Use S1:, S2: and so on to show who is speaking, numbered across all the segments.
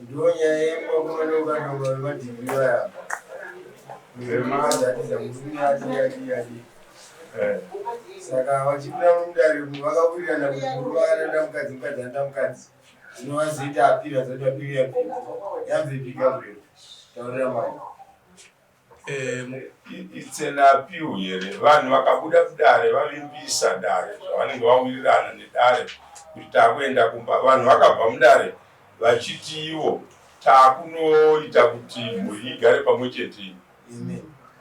S1: ndonyaya yemakumadongadonga vemadhiri vaya vemazatiza murume atiyatiyati eh. saka vachipinda mudare vakawirirana kuti murume akanoda mukadzi mukadzi anoda mukadzi zvinovazoita apira zoti apiri yapiri yabvepika bwe taurira mwana
S2: It's an appeal here vanhu vakabuda kudare vavimbisa dare zvavanenge vawirirana nedare kuti takuenda kumba vanhu vakabva mudare vachiti ivo takunoita kuti mhuri igare pamwe chete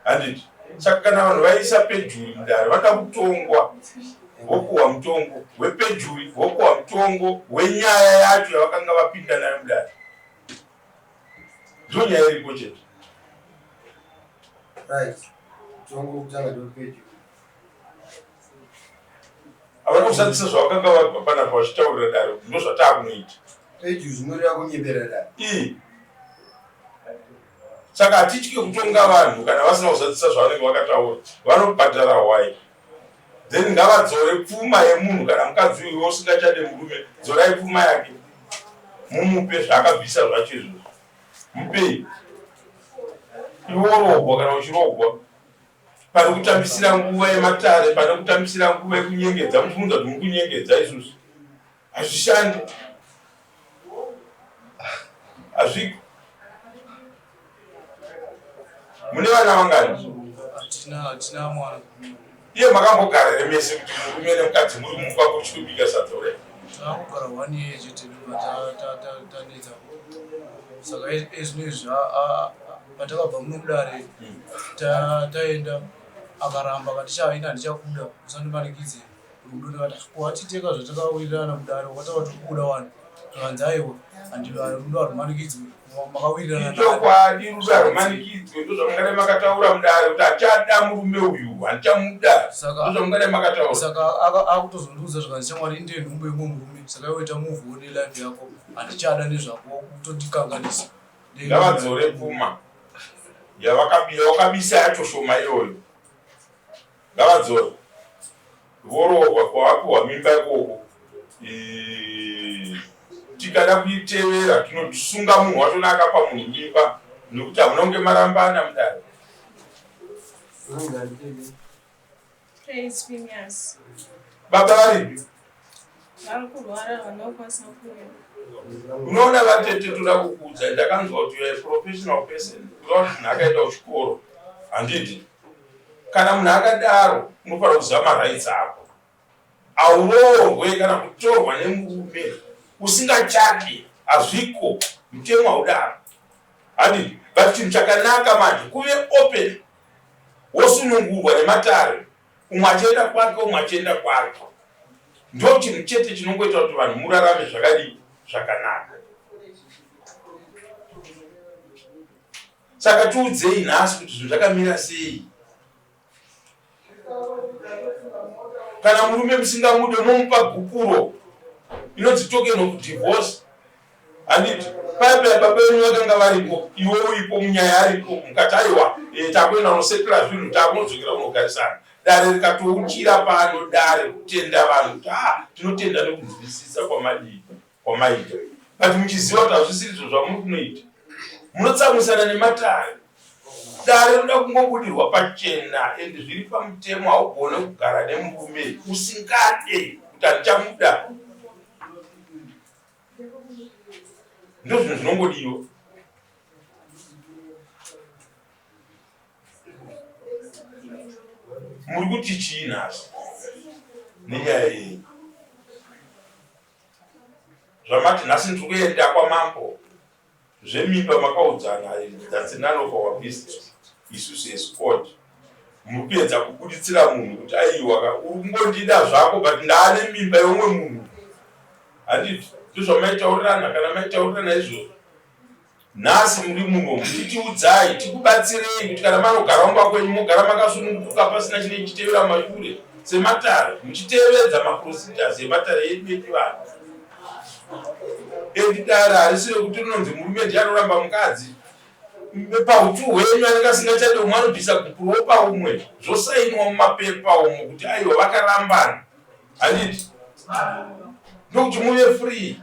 S2: handiti saka kana vanhu vaisa pejuri mudare vanoda kutongwa vokuwa mutongo wepejuri vokuwa mutongo wenyaya yacho yavakanga vapinda nayo mudare ndonyaya iripo chete
S1: havana
S2: kushandisa zvavakanga vabva panapa vachitaurira daro ndozvataakunoita pedyu zvinoreva
S1: kunyebera daro
S2: saka hatitye kutonga vanhu kana vasina kuzadzisa zvavanenge vakataura vanobhadhara hwai then ngavadzore pfuma yemunhu kana mukadzi uyu usingachade murume dzorai pfuma yake mumupe zvaakabvisa zvacho izvozvo mupei iworogwa kana uchirogwa pane kutambisira nguva yematare pane kutambisira nguva yekunyengedza muchimunza kuti mukunyengedza isusu Hazvishandi. Hazviko. Mune vana vangani? Tina tina
S3: mwana. Iye
S2: makambogara remese kuti murume nemukadzi muri mumba kuchikubika sadza ure. Takugara one
S3: year chete ndoba ta ta tanetsa. Saka ezvino izvi a patakabva munokudare hmm. taenda akaramba kati chaina ndichakuda usandimanikidze. Rudo ndikati ah, ko hatiteka zvatakawirirana kudaro wataura kuti kubuda wani zvikanzi aiwa rudo harumanikidzwe makawirirana ichokwadi rudo
S2: harumanikidzwe ndozvamungadai makataura mudare kuti achada murume uyu handichamuda ndozvamungadai makataura saka
S3: akutozondiudza zvikanzi shamwari inde nhumbu yemwe murume saka iwoita move one life yako handichada nezvako kutondikanganisa ngavadzore
S2: pfuma yavakabisa yacho shoma iyoyo Ngavadzore. Voroorwa kwavapiwa mimba ikoko tikada kuitevera tinosunga munhu watona akapa munhu mimba nekuti hamuna kunge marambana mudare
S4: baba
S2: varipi
S4: unoona
S2: vatete toda kukuudzai ndakanzwa kuti you're a professional person kuda kuti munhu akaenda kuchikoro handiti kana munhu akadaro unofanira kuziva marights ako auroorwe kana kutorwa nemurume usingachati hazviko mutemo haudaro handiti but chinhu chakanaka manje kuve open wosunungurwa nematare umwe achienda kwake umwe achienda kwake ndo chinhu chete chinongoita kuti vanhu murarame zvakadii zvakanaka saka tiudzei nhasi kuti zvinhu zvakamira sei kana murume musingamude momupa gupuro inonzi token of divorce handiti paipi ababa venyu vakanga varipo iwe uripo munyaya aripo mukati aiwa eh, takuenda unosetula zvinhu takunodzokera unogarisana dare rikatouchira pano dare kutenda vanhu kuti ha ah, tinotenda nekunzwisisa kwamadii kwamaita but muchiziva kuti hazvisirizvo zvamuri kunoita munotsamwisana nematare dare rinoda kungobudirwa pachena endi zviri pamutemo haugone kugara nemurume usingade kuti handichamuda ndozvinhu zvinongodiwa muri kuti chii nhasi nenyaya yenyu zvamati nhasi ndiri kuenda kwamambo Zvemimba makaudzana and that's none of our business isu seSquad. Muri kuedza kubuditsira munhu kuti aiwa ka uri kungondida zvako but ndaane mimba yeumwe munhu. Handiti ndozvamaitaurirana kana maitaurirana izvozvo nhasi muri muno mutiudzayi tikubatsirei kuti kana manogara mumba kwenyu mogara makasununguka pasina chine chitevera mashure sematare muchitevedza maprocedures ematare edu echivanhu Edi dare harisi rekuti rinonzi murume ndiye anoramba mukadzi pautu hwenyu anenge asingachadi umwe anobvisa gupurowo paumwe zvosainwa mumapepa umo kuti aiwo vakarambana handiti ndokuti muve
S4: free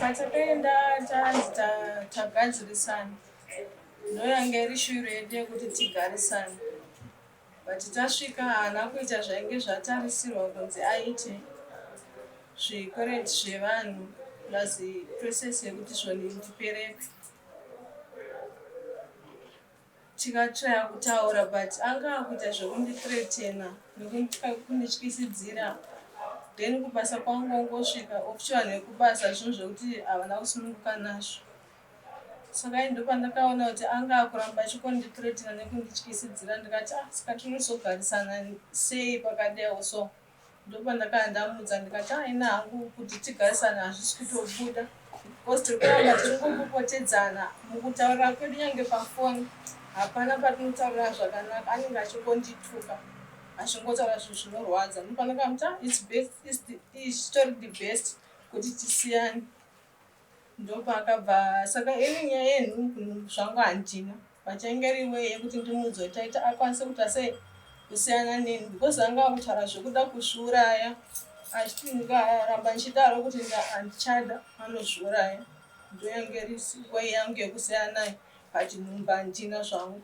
S4: Patakaenda tanzi tagadzirisana ndoyanga iri shwiro yedu yekuti tigarisane. But tasvika haana kuita zvainge zvatarisirwa kunzi aite zve current zvevanhu plus process yekuti zvoni ndipereke tikatraya kutaura but anga akuita zvekundithretena nekundityisidzira then kubasa kwangu wangosvika official nekubasa zvinhu zvekuti havana kusununguka nazvo Saka ini ndopandakaona kuti anga akuramba achikondithreatena nekundityisidzira ndikati ah saka tinozogarisana sei pakadeo so ndopandakanga ndamuudza ndikati ah ini hangu kuti tigarisane hazvisi kutobuda because tiri kuramba tichingopopotedzana mukutaurira kwedu nyange pafoni hapana patinotaurira zvakanaka anenge achingondituka achingotaura zvinhu zvinorwadza ndopandakamuti ah its best ichitori the best kuti tisiyane ndopaakabva saka ini nyaya yenhu zvangu handina vachainge riwe yekuti ndimudzwe taita akwanise kuita sei kusiyana neni because anga akutaura zvekuda kuzviuraya achiti ndikaramba ndichidaro kuti handichada anozviuraya ndoyange risiwe yangu yekusiyana naye but nhumba handina zvangu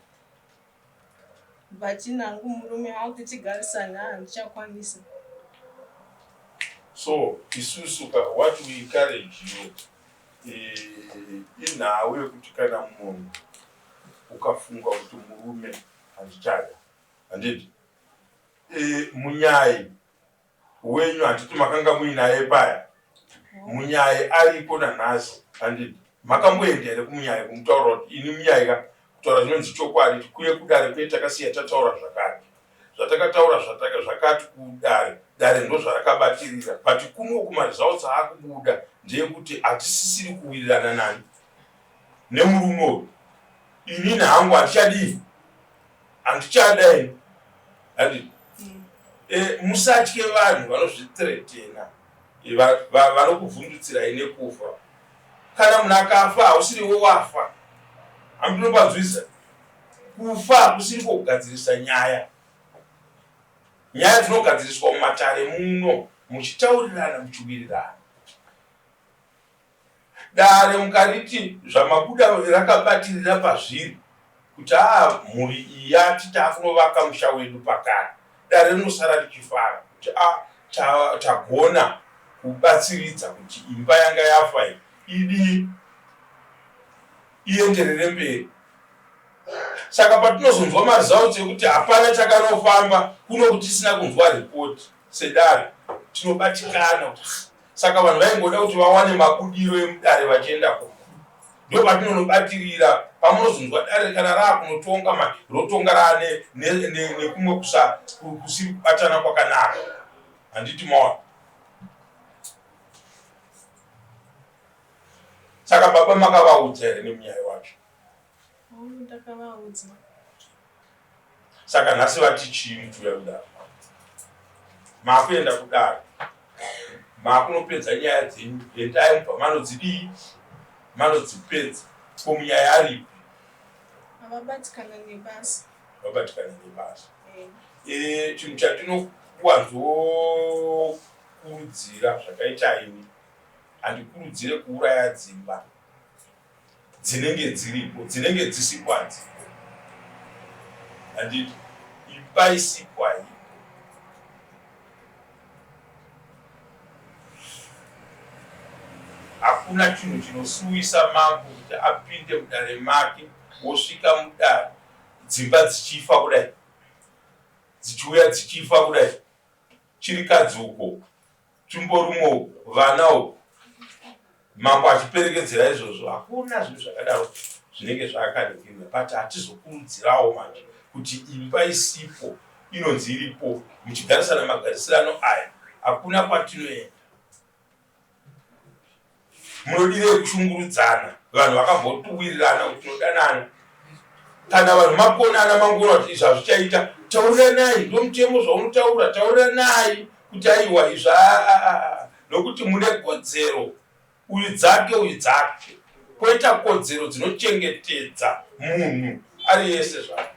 S4: But ini hangu murume haa kuti tigarisane haa handichakwanisa.
S2: So isusu ka what we encourage you inhau yekuti kana munhu ukafunga kuti murume handichada handiti e, munyai wenyu handiti makanga muinaye paya munyaye aripo nanhasi handiti makamboenda here kumunyaye kumutaura kuti ini munyaye ka kutaura zvinonzi chokwadi tikuye kudare kuye takasiya tataura zvakati zvatakataura zvakati kudare dare ndozvarakabatirira but kuno kumaresults aakubuda ndeyekuti hatisisiri kuwirirana nani nemurume uyu inini hangu handichadii Handichada ini. Handiti. Mm. Eh, musatye vanhu vanozvitretena. Eh, Vanokuvhundutsirai nekufa. Kana munhu akafa hausiriwo wafa. Hamdinopadzwisa. Kufa hakusiri kugadzirisa nyaya. Nyaya dzinogadziriswa mumatare muno muchitaurirana muchiwirirana. Dare mukariti Zvamabuda rakabatirira pazviri kuti haa mhuri iyi yati takunovaka musha wedu pakare, dare rinosara richifara kuti a ta, tagona kubatsiridza kuti imba yanga yafa iyi idii ienderere mberi. Saka patinozonzwa maresults ekuti hapana chakanofamba kuno kutisina kunzwa report sedare tinobatikana kuti Saka vanhu vaingoda kuti vawane mabudiro emudare vachienda ko ndo patinonobatirira pamunozonzwa dare kana raakunotonga ma rotonga raane nekumwe kusa kusiri kubatana kwakanaka handiti maona saka baba makavaudza here nemunyaya wacho
S4: Ndakavaudza. Saka
S2: nhasi vati chii mutuya kudaro? Makuenda kudaro. Makunopedza nyaya dzenyu. Endai mubva manodzidii? Manodzipedza. Ko munyaya aripi? Havabatikana
S4: nebasa. Vabatikana
S2: nebasa. Eh. Eh, chinhu chatinokuwanzokurudzira zvakaita ini handikurudzire kuuraya dzimba dzinenge dziripo dzinenge dzisikwadzi handiti ipai sikwai hakuna chinhu chinosuwisa mambo kuti apinde mudare make wosvika mudare dzimba dzichifa kudai dzichiuya dzichifa kudai chirikadzi uko Chimborumo uku vana uku mambo achiperekedzera izvozvo hakuna zvinhu zvakadaro zvinenge zvakaregerwa but hatizokurudzirawo manje kuti imba isipo inonzi iripo muchigarisana magarisirano aya hakuna kwatinoenda Munodireyi kushungurudzana vanhu vakambotuwirirana kuti tinodanana kana vanhu makonana mangoona kuti izvi hazvichaita tauriranai ndomutemo zvaunotaura tauriranai kuti aiwa izvi aa nokuti mune kodzero uyu dzake uyu dzake koita kodzero dzinochengetedza munhu ari yese zvake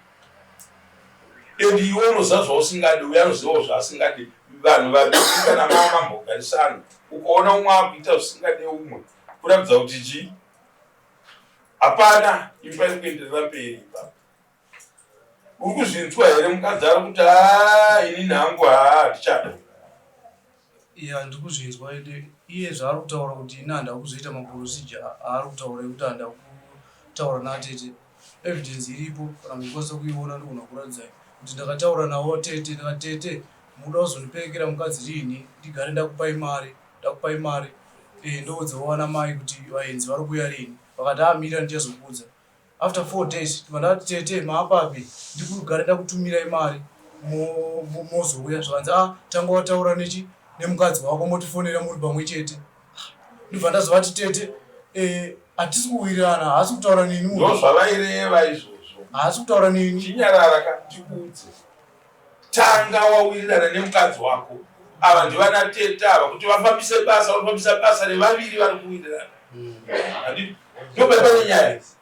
S2: and iwe unoziva zvausingadi uye anozivawo zvaasingadi vanhu vaikana mama mambogarisana ukaona umwe akuita zvisingade umwe kuratidza kuti chi hapana imba yekuenderera mberi ipa uri kuzvinzwa here mukadzi ari kuti haa inini hangu haa hatichada
S3: Yeah ndikuzvinzwa ende iye zvaari kutaura kuti ini handava kuzoita maporosija aari kutaura ekuti handava kutaura naatete evidence iripo kana muchikwanisa kuiona ndigona kuratidzai kuti ndakataura navo tete ndikati tete mukuda kuzondiperekera mukadzi riini ndigare ndakupai mari ndakupai mari e eh, ndoudzawo vana mai kuti vaenzi vari kuuya riini vakati amira ah, ndichazokuudza After four days ndobva ndati tete maapapi ndirikugara ndakutumirai mari mozouya zvikanzi ah tanga wataura nechi nemukadzi wako motifonera muri pamwe chete ndobva ndazovati tete eh, hatisi kuwirirana haasi kutaura neni ndozvavaireva izvozvo
S2: haasi kutaura neni
S3: chinyarara ka
S2: ndikuudze Tanga wawirirana nemukadzi wako. Ava ndivana tete ava kuti vafambise basa vanofambisa basa revaviri vari kuwirirana. Handi ndoba pane nyaya idzi.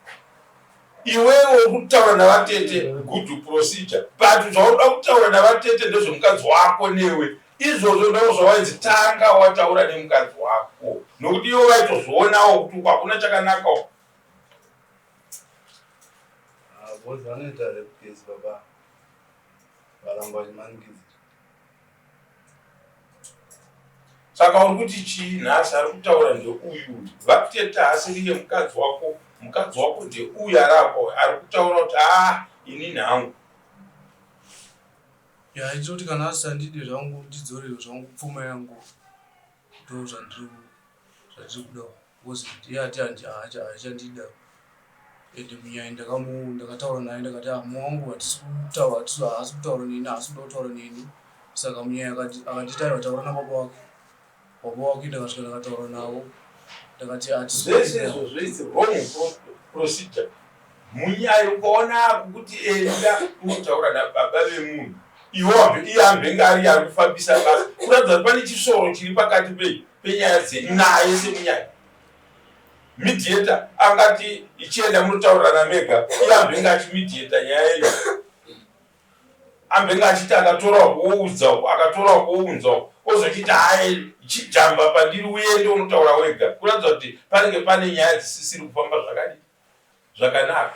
S2: Iwewe uri kutaura navatete good procedure but zvaunoda kutaura navatete ndezvemukadzi wako newe izvozvo ndoo zvawainzi tanga wataura nemukadzi wako nokuti ivo vaitozvionawo kuti uku hakuna chakanaka uku Ah,
S5: both vanoita rape case baba. varamba vachimanikiza
S2: saka uri kuti chii nhasi ari kutaura ndeuyu vakuteta haasiriye mukadzi wako mukadzi wako ndeuyu ari apa ari kutaura kuti a ah, ini nhangu
S3: yaitoti kana asisandidi zvangu ndidzorero zvangu pfuma yangu ndo zvandiri zvatiri kuda because iye ati haachandida and munyaya ndakataura naye ndakati ah, mumwe wangu hatisi kutaura haasi kutaura neni haasi kuda kutaura neni saka munyaya akanditi aiwa taura nababa wako baba wako ndakasvika ndakataura navo ndakati hatizvese izvo
S2: zvoitse wrong procedure munyaya ukaona kuti enda unotaura nababa vemunhu iwo iye ambenge ari ari kufambisa basa kuratidza kuti pane chisoro chiri pakati pei penyaya dzenyu naye semunyaya midieta angati ichienda munotaurirana mega iye ambenge achimidieta nyaya yenyu ambenge achiti akatorawo kuoudzawo akatorawo kuounzawo ozochiti haye chijamba pandiri uende unotaura wega kuratidza kuti panenge pane nyaya dzisisiri kufamba zvakadii zvakanaka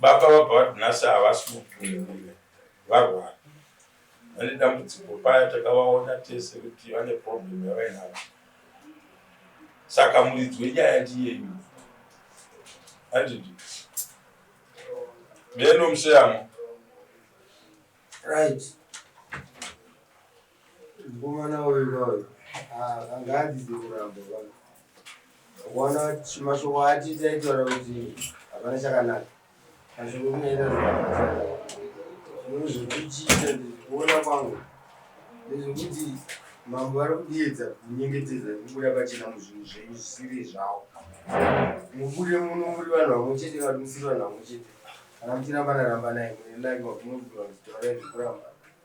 S2: Baba vabva vati nhasi havasi mupi nemurume varwara vane dambudziko paya takavaona tese kuti vane problem yavainavo saka muridzi wenyaya ndiyeyu andidi meno museyamo right
S1: Mukomana uyu uyu ah, anga adzidzi kuramba vana wana mashoko aatiti aitaura kuti hapana chakanaka mashoko kunaita zvimweni zvekuchiita ndizvikuona kwangu ndezvekuti mambo vari kudiedza kunyengetedza kubuda pachena muzvinhu zvenyu zvisiri zvavo mubude muno muri vanhu vamwe chete vati musiri vanhu vamwe chete kana muchirambana rambanai mune lake makunokuti vanhu taurai zvekurambana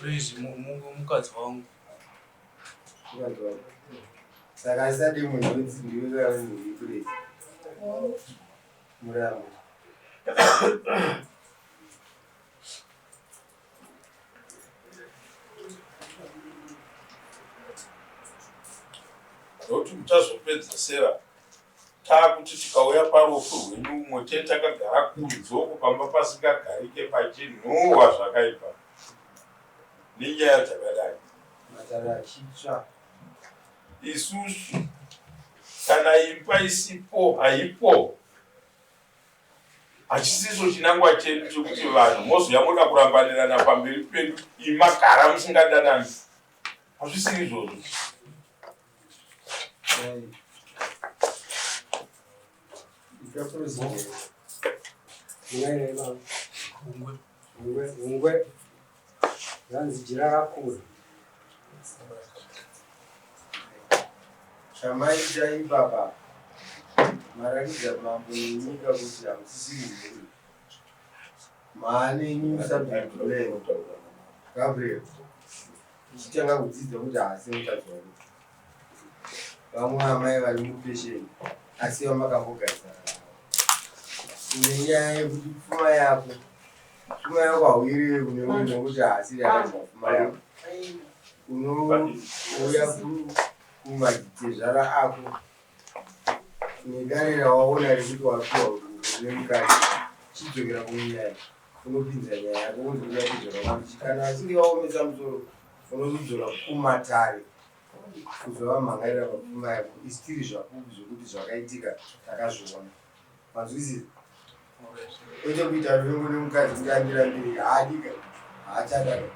S1: Praise mukadzi
S3: wangu. Mukadzi wangu.
S1: Saka asati munhu unzi ndiwe kaunzi praise. Muramba.
S2: Nokuti muchazopedzesera Taakuti tikauya parufu rwedu umwe chete takagara kunzoko pamba pasingagarike pachinhuwa zvakaipa nenyaya dzakadai matare
S1: achitsva
S2: isusu kana imba isipo haipo hachisiso chinangwa chedu chekuti vanhu mozouya moda kurambanirana pamberi pedu imagara musingadanani hazvisiri izvozvo
S1: hungwe zvanzi jira rakura chamaita ibaba marakidza mambo nenyika kuti hamusisi mhuri maanenyu musabhedhuleo gabriel Ndichitanga kudzidza kuti haasi mutadzi wangu. Vamwe amai vari mupesheni asi vamakambogarisana navo. Kune nyaya yekuti pfuma yako pfuma yako hauirewe kune umwe nekuti haasiri akadya pfuma yako. Unouya kumadzitezvara ako nedare rawaona rekuti wapiwa une mukadzi chidzokera kunyaya unopinza nyaya yako wonzwa kuti zvakanzi kana achinge vaomesa musoro unozodzora kumatare kuzovamhangaira mapfuma yako isi tiri zvapupu zvokuti zvakaitika takazviona manzwisisa kwete kuita ruvengo nemukadzi kuti andirambiri haadika haachadaka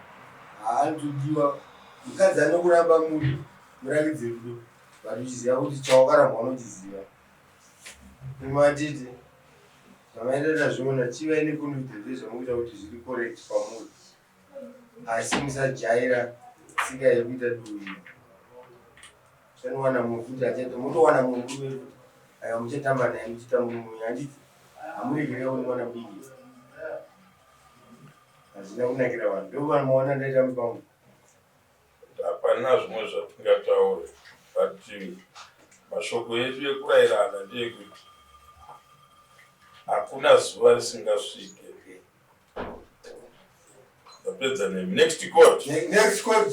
S1: haanzodiwa mukadzi anokuramba munhu murakidzi rudo but uchiziva kuti chawakarambwa unochiziva Imwe atiti zvamaita tazviona chivai nekundiudza ndezvamukuita kuti zviri correct kwamuri asi musajaira tsika yekuita dui chanowana munhu kuti achaita motowana munhu kuve kuti aya muchatamba naye muchitambura mwenyu handiti hamuregerei wani mwana mudiki hazvina kunakira vanhu ndovanhu maona ndaita mupango
S2: Hapana zvimwe zvatingataure but mashoko edu ekurairana ndeekuti hakuna zuva risingasvike ndapedza nemi next court. Next court.